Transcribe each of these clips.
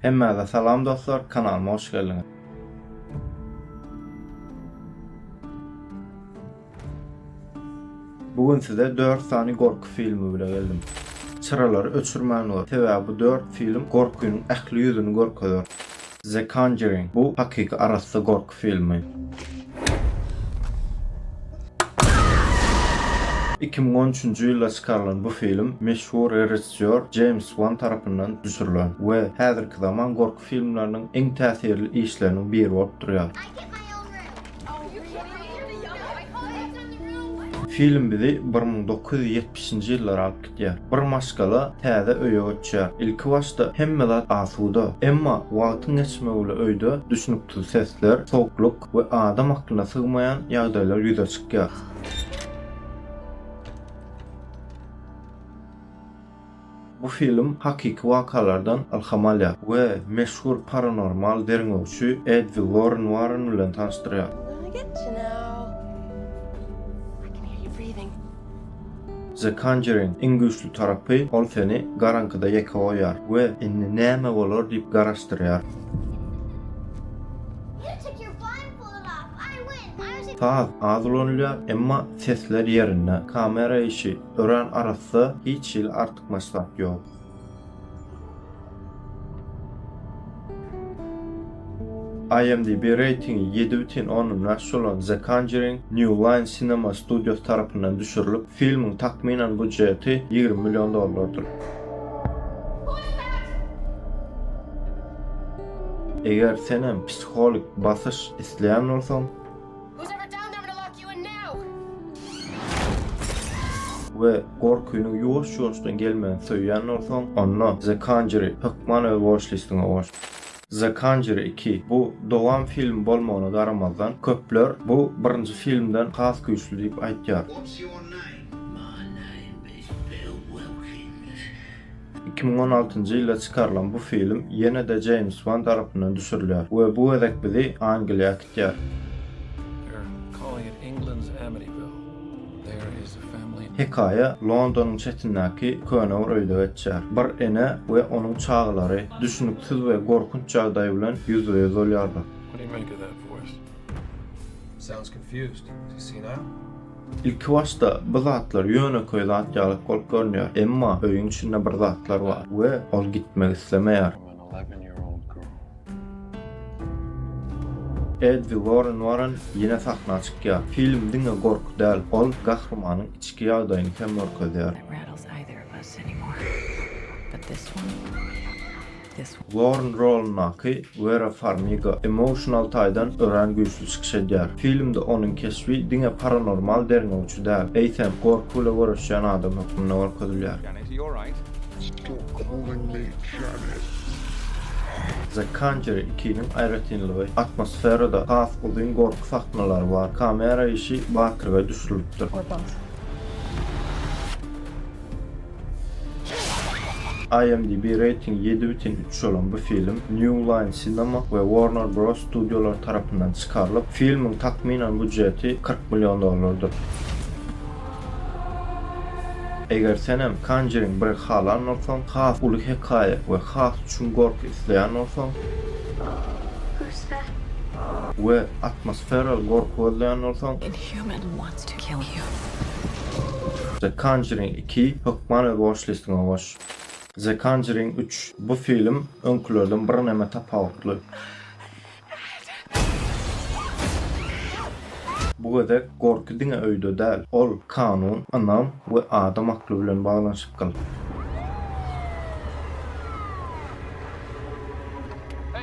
Hemmäze salam dostlar kanalyma hoş geldiňiz. Bu gün size 4 sany gorky filmi bile geldim. Çyralary öçürmän gör. Sebäbi bu 4 film gorkynyň ähli ýüzüni görkezer. The Conjuring bu hakyky arassa gork filmi. Iki müň on üçünji ýylda çykarylan bu film meşhur režissýor Jeýms Wan tarapyndan düşürilen we häzirki zaman gorky filmleriniň iň täsirli işleriniň biri bolup durýar. Film bizi bir müň dokuz ýüz ýetmişinji ýyllara alyp Diýär. Bir maşgala täze öýe göçýär. Ilkibaşda hemme zat asuda. Emma wagtyň geçmegi bilen öýde düşnüksiz sesler, sowuklyk we adam aklyna sygmaýan ýagdaýlar ýüze çykýar. Bu film hakyky wakalardan ylham alýar we meşhur paranormal derňewçi Edwi Loren Warren bilen tanyşdyrýar. The Conjuring iň güýçli tarapy, ol seni garaňkyda ýeke goýýar we indi näme bolar diýip garaşdyrýar. Saz az ulanylýar, emma sesler ýerinde. Kamera işi örän arassa, hiç hili artykmaç zat ýok. IMDb reýtingi ýedi bütin ondan bäş bolan The Conjuring New Line Cinema studiýasy tarapyndan düşürilip, filmiň takmynan býujeti ýigrimi million dollardyr. Eger sen hem psihologik basyş isleýän bolsaň, we gorkynyň ýuwaş-ýuwaşdan gelmegini söýýän bolsaň, onda The Conjury hökman öz watch listiňe goş. The Conjury iki, bu dowam filmi bolmagyna garamazdan, köpler bu birinji filmden has güýçli diýip aýtýar. Iki müň on altynjy ýylda çykarylan bu film ýene-de Jeýms Wan tarapyndan düşürilýär we bu gezek bizi Angliýa, Ýör. Hekaýa Londonyň çetindäki köne bir öýde geçýär. Bir ene we onuň çagalary düşüniksiz we gorkunç ýagdaý bilen ýüzbe-ýüz bolýarlar. Ilkibaşda bu zatlar ýönekeý zat ýaly bolup görünýär, emma öýüň içinde bir zatlar bar we ol gitmek islemeýär. Eleven-year-old girl. Eddi Worren Worren ýene sahna çykýar. Film diňe gorky däl, ol gahrymanyň içki ýagdaýyny hem görkezýär. Worren rolundaky Wera Farmiga emosional taýdan örän güýçli çykyş edýär. Filmde onuň keşbi diňe paranormal derňewçi däl, eýsem, gorky bile göreşýän adam hökmünde görkezilýär. He alright. Stop calling me Janet. The Conjury iki-niň aýratynlygy, atmosferada has uzyn gorky sahnalary bar, kamera işi batyrgaý düşülipdir. Gorkunç. IMDb reýtingi ýedi bütin üç bolan bu film New Line Cinema we Warner Bros. Studiolary tarapyndan çykarylyp, filmiň takmynan budjeti kyrk million dollardyr. Eger senem Conjuring biri halan bolsaň, has uly hekaýa we has çuň gorky isleýän bolsaň, we atmosferal gorky gözleýän bolsaň, The Conjuring iki hökman öz watchlist-iňe goş. The Conjuring üç, bu film öňkülerden birneme tapawutly. Bu gezek gorky diňe öýde däl, ol kanun, ynam we adam akly bilen baglanyşykgyl.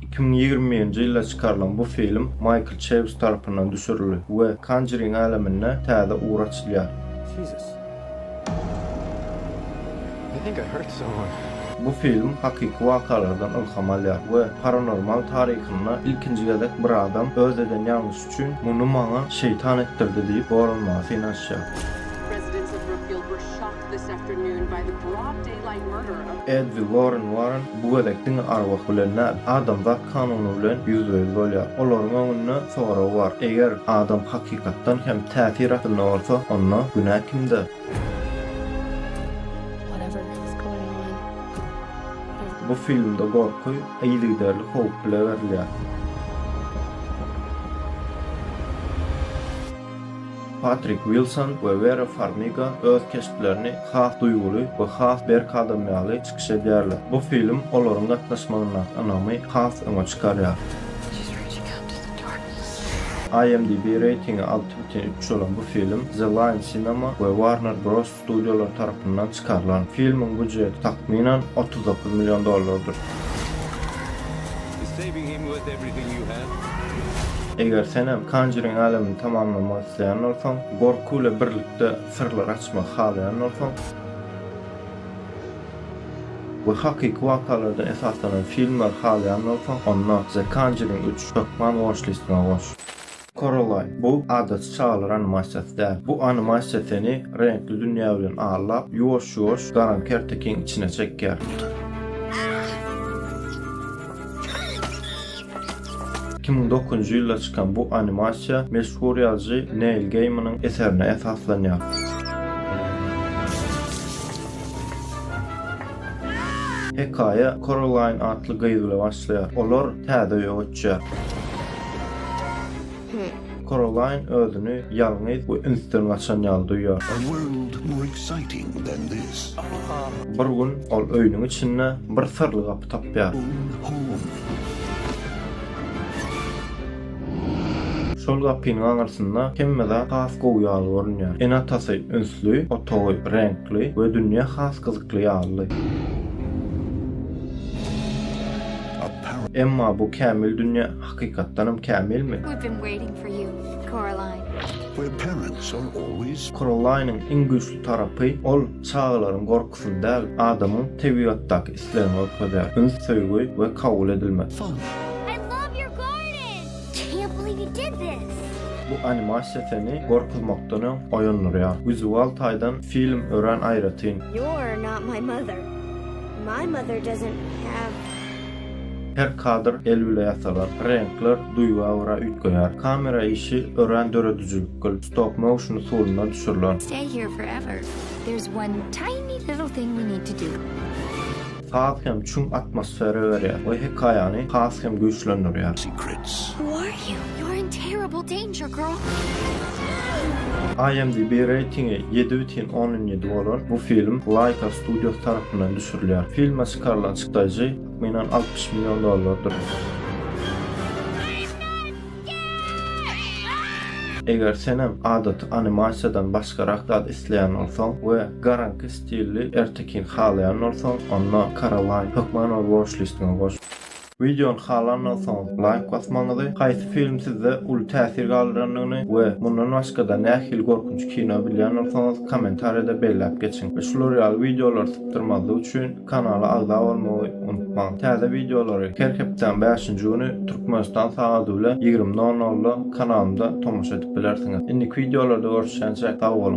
Iki müň ýigrimi birinji ýylda çykarylan bu film Maýkl Çeýws tarapyndan düşürildi we Conjuring älemine täze ugur açylýar. Bu film hakyky wakalardan ylham alýar we paranormal taryhynda ilkinji gezek bir adam öz eden ýalňyşy üçin muny maňa şeýtan etdirdi diýip bolanmaga synaşýar. Edwi Warren Warren bu gezek diňe arwah bilen däl, adamzat kanuny bilen ýüzbe-ýüz bolýar. Olaryň öňünde sorag bar, eger adam hakykatdan hem täsir astynda bolsa, onda günä kimde? Bu filmde gorky yzygiderli howp bile berilýär. Patrik Wilson we Wera Farmiga öz keşplerini has duýguly we has berk adam ýaly çykyş edýärler. Bu film olaryň gatnaşmagyndaky ynamy has öňe çykarýar. IMDb reýtingi alty bütin üç bolan bu film The Line Cinema we Warner Bros. Studiýalar tarapyndan çykarylan filmiň býujeti takmynan otuz dokuz million dollardyr. Eger sen hem Conjuring älemini tamamlamak isleýän bolsaň, gorky bilen birlikde syrlary açmagy halaýan bolsaň we hakyky wakalarda esaslanan filmleri halaýan bolsaň, onda The Conjuring üç hökman watchlist-iňe goş. Coraline, bu adaty çagalar animasiýasy däl. Bu animasiýa seni reňkli dünýä bilen allap, ýuwaş-ýuwaş garan kertekiň içine çekýär. Iki müň dokuzynjy ýylda çykan bu animasiýa meşhur ýazyjy Neil Geýmanyň eserine esaslanýar. Hekaýa Korallaýn atly gyz bilen başlaýar. Olar täze öýe göçýär. Korallaýn özüni ýalňyz we ünsden gaçan ýaly duýýar. Bir gün ol öýüniň içinde bir syrly gapy tapýar. Şol gapynyň aňyrsynda hemme zat has gowy ýaly görünýär. Ene-atasy ünsli, otagy reňkli we dünýä has gyzykly ýaly. Emma bu kämil dünýä hakykatdanam kämilmi? Korolaýnyň iň güýçli tarapy, ol çagalaryň gorkusyny däl, adamyň tebigatdaky islegini görkezýär, üns, söýgi we kabul edilmek. Fan. Bu animasiýa seni gorkuzmakdan öň oýandyrýar. Wizual taýdan film örän aýratyn. Her kadr el bile ýasalan, reňkler duýga görä üýtgeýär. Kamera işi örän döredijilikgl, stop-motion usulynda düşürilen. There's one tiny little thing we need to do. Has hem çuň atmosfera berýär we hekaýany has hem güýçlendirýär. Secrets. Who are you? You're in terrible danger, girl. IMDb reýtingi ýedi bütin ondan ýedi bolan bu film Laika studiýasy tarapyndan düşürilýär. Filme çykarylan çykdajy, takmynan, altmyş million dollardyr. Eger senem adaty animasiýadan başgarak zat isleýän bolsaň we garaňky stilli ertekin halaýan bolsaň, onda Coraline hökman öz watchlist-iňe goş. Wideony halandan soň laýk basmagyňyzy, haýsy film sizde uly täsir galdyrandygyny we mundan başgada nähili gorkunç kino bilýän bolsaňyz kommentariýada belläp geçiň we şular ýaly wideolary sypdyrmazlyk üçin Kanala agza bolmagy unutmaň. Täze wideolary her hepdäň bäşinji güni Türkmenistan sagady bilen ýigrimi nol nolda kanalymda tomaşa edip bilersiňiz. Indiki wideolarda görüşýänçä sag boluň.